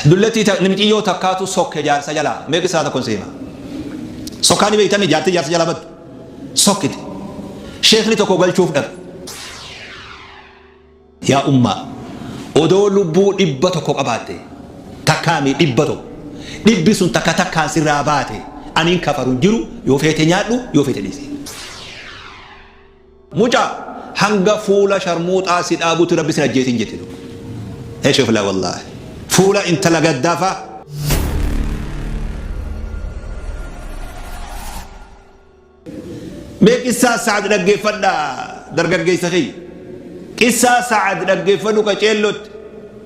Dullattii ta, miciyyoo takkaatu sokke jaarsa jalaa. Mee qissaa tokkon si hima. Sokkaa ni beeytanii jaartii jaarsa jalaa baddu. Sokkite. Sheekni tokko galchuuf dhaqe. Yaa ummaa! Odoo lubbuu dhibba tokko qabaattee. Takkaa mii dhibba tokko. Dhibbi sun takka takkaan sirraa baate. Ani hin kafaru hin jiru. Yoo feete nyaadhu, yoo feete dhiisi. Muca hanga fuula sharmuuxaa si dhaabutti rabbi sin ajjeesin jette duba. Eshefla wallahi. Fuula intala gaddaa faa. Mee qissaa Sa'ad dhaggeeffadhaa dargaggeessa kiyya. Qissaa Sa'ad dhaggeeffadhu qaceellotti.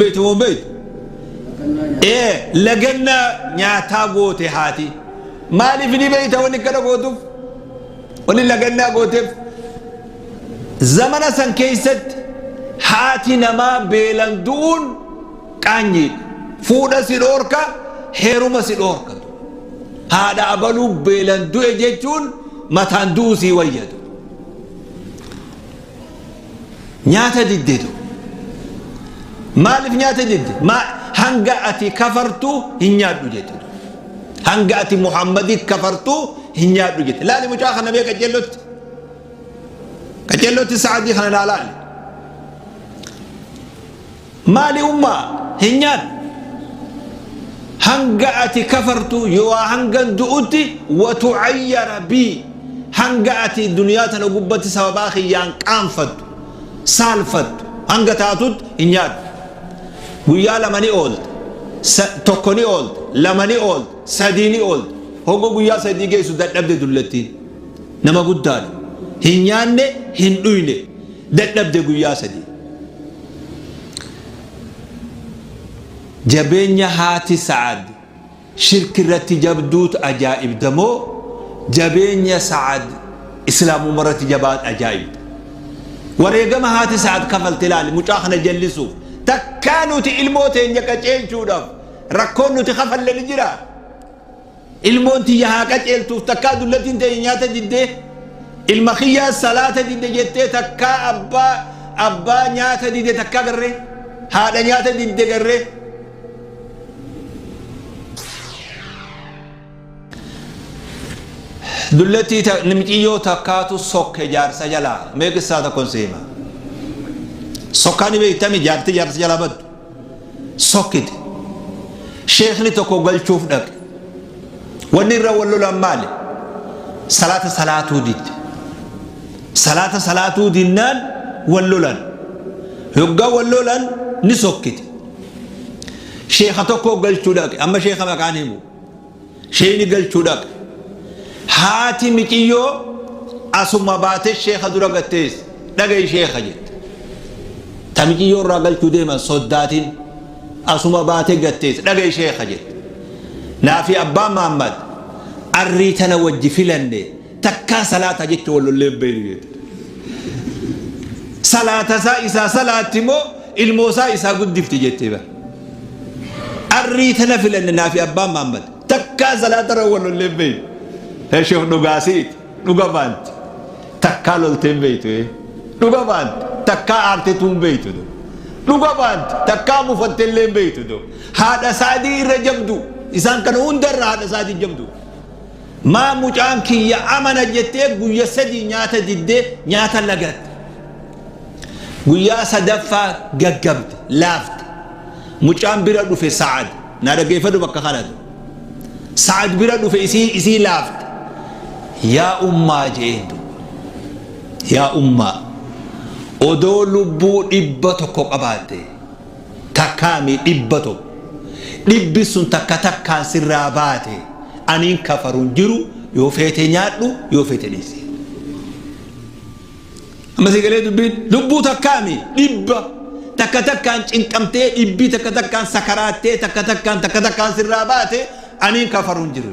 Beektu moo hin beektu? Ee laganna nyaataa goote haati. Maaliif ni beekta wanni kana gootuuf? Wanni lagannaa gooteef zamana san keessatti haati namaa beelan du'uun qaanyiidha. Fuudha si dhoorka, heeruma si dhoorka. Haadha abaluu beelan du'e jechuun mataan du'uu sii wayyatu. nyaata diddeetu maaliif nyaata didde maa hanga ati kafartu hin nyaadhu jette hanga ati muhammadi kafartu hin nyaadhu jette laali mucaa kana mee qaceellotti qaceellotti sa'adii kana naa laali Maali ummaa hin nyaatu hanga ati kafartu yooaa hangan du'utti wa tucayyara bii hanga ati duniyaa tana gubbatti sababaa kiyyaan qaanfattu saalfattu hanga taatutti hin nyaatu guyyaa lama ni oolta sa- tokko ni oolta lama ni oolta sadii ni oolta hogga guyyaa sadii geessu dadhabde dullattiin Nama guddaadha. Hin nyaanne, hin dhuyne. Dadhabde guyyaa sadii. Jabeenya haati Sa'ad shirki irratti jabduut ajaa'ibda moo jabeenya Sa'ad Islaamumma irratti jabaat ajaa'ibda? Wareegama haati Sa'ad kafalte ilaali mucaa kana jallisuuf. Takkaa nuti ilmoo teenya qaceelchuudhaaf rakkoon nuti kafalle ni jiraa? Ilmoon tiyya haa qaceeltuuf takkaa dullattiin teenya nyaata didde ilma kiyyaa salaata didde jettee takkaa abbaa abbaa nyaata didde takkaa garree haadha nyaata didde garree dullattii ta- nimciyyoo takkaatu sokke jaarsa jalaa mee qissaa tokkon seema sokkaa ni beektami jaarti jaarsa jalaa baddu sokkite sheekni tokko galchuuf dhaqe wanni irra wal lolan maali salaata salaatuu didde salaata salaatuu dinnaan wal lolan yoggaa wal lolan ni sokkite sheeka tokko galchuu dhaqe amma sheeka maqaan himu Sheeyni galchuu dhaqe. Haati miciyyoo asuma baate sheeka dura gad teesse. Dhaga'i sheeka jette. Ta miciyyoo irraa galchuu deeman soddaatin asuma baate gad teesse. Dhaga'i sheeka jette. Naafi abbaan Maammad arrii tana wajji filanne takkaa salaataa jecha wal lollee hin beeynu jette. Salaatasaa isaa salaatti moo ilmoosaa isaa guddifti jette bar. Arrii tana filanne naafi abbaan Maammad takkaa salaatarra wal lollee hin beeynu. Sheekh dhugaasiiti dhuga baanti takkaa loltee hin beeytu dhuga baanti takkaa aartetuu hin beeytu dhuga baanti takkaa mufattee illee hin beeytu haadha saadii irra jabdu isaan kana hundarra haadha saadii jabdu. Maa mucaan kiyya amana jettee guyya sadii nyaata didde nyaata lagatte. Guyyaa sadaffaa gaggabde, laafte. Mucaan bira dhufe Sa'ad. Naa dhaggeeffadhu bakka kanatti. Sa'ad bira dhufe isii isii laafte. Yaa ummaa je'een duuba. Yaa ummaa odoo lubbuu dhibba tokko qabaattee. takkaa mii dhibba tokko dhibbi sun takka takkaan sirraa baate aniin kafaruun jiru yoo feete nyaadhu yoo feete dhiisi amma sii galee dubbiin lubbuu takkaa mii dhibba takka takkaan cinqamtee dhibbii takka takkaan sakaraattee takka takkaan takka takkaan sirraa baate aniin kafaruun jiru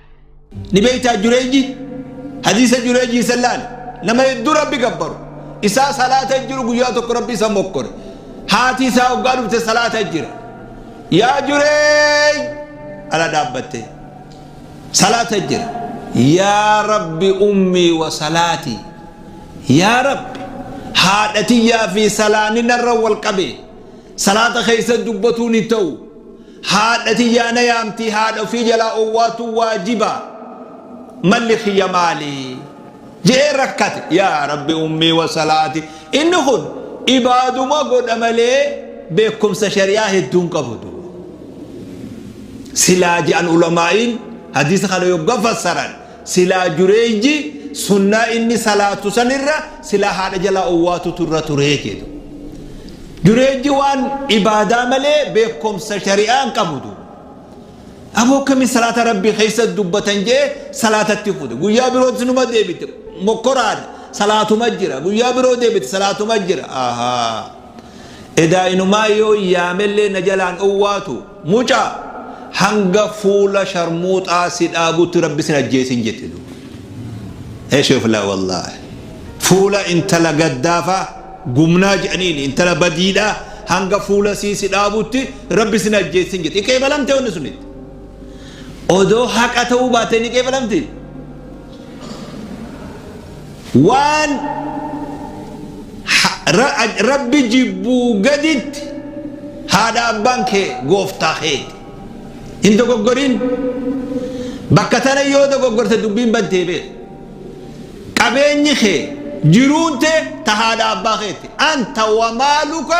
Ni beektaa Jureejii? Hadiisa Jureejii san laal. Nama hedduu Rabbi gabbaru. Isaa salaata jiru guyyaa tokko Rabbi isa mokkore. Haati isaa hoggaa dhufte salaata jira. Yaa Jureej! Ala dhaabbattee. Salaata jira. Yaa Rabbi ummii wa salaatii. Yaa Rabbi haadha tiyyaa fi salaanni narra wal qabe. Salaata keessa dubbatuun hin ta'u. Haadha tiyyaa na yaamtii haadha ofii jalaa owwaatuun waajiba? Malli kiyya maali? je'ee rakkate. Yaa Rabbi ummii wasalaati. Inni kun ibaaduma godha malee beekumsa shari'aa hedduu hin qabu du. Silaa je'an ulamaa'iin hadiisa kana yogga fassaran Silaa Jureeyji sunnaa inni salaatu san irra silaa haadha jalaa owwaatutu irra turee jedhu. Jureeyji waan ibaadaa malee beekomsa shari'aa hin qabu duuba. Aboo akkamiin salaata Rabbii keessa dubbatan jee salaatatti fuute. Guyyaa birootis numa deebite mokkoraadha. Salaatuma jira. Guyyaa biroo deebite salaatuma jira. Ahaa. Edaa inumaa yoon yaamellee na jalaan owwaatu mucaa hanga fuula sharmuuxaa si dhaabutti rabbi sin ajjeesin jette duuba. Eshefla wallaahi fuula intala gaddaafaa gumnaa jedhaniin intala badiidhaa hanga fuula sii si dhaabutti rabbi sin ajjeesin jette iqeebalamte wanni sunitti. Odoo haqa ta'uu baatee ni qeebalamti. waan rabbi jibbuu gaditti haadha abbaan kee gooftaa keeti hin dogoggorin bakka tana yoo dogoggorte dubbiin bantee beeku qabeenyi kee jiruun tee ta haadha abbaa keeti anta wamaaluka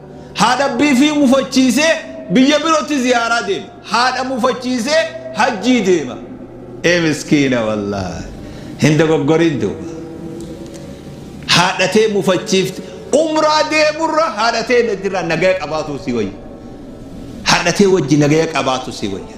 Haadha bifii mufachiisee biyya birotti ziyaaraa deema. Haadha mufachiisee hajjii deema. Ee miskiina wallahi. Hin dogoggorin duuba. Haadha tee mufachiifte umraa deemurra haadha tee irraa nagaya qabaatuu si wayya. Haadha tee wajji nagaya qabaatu si wayya.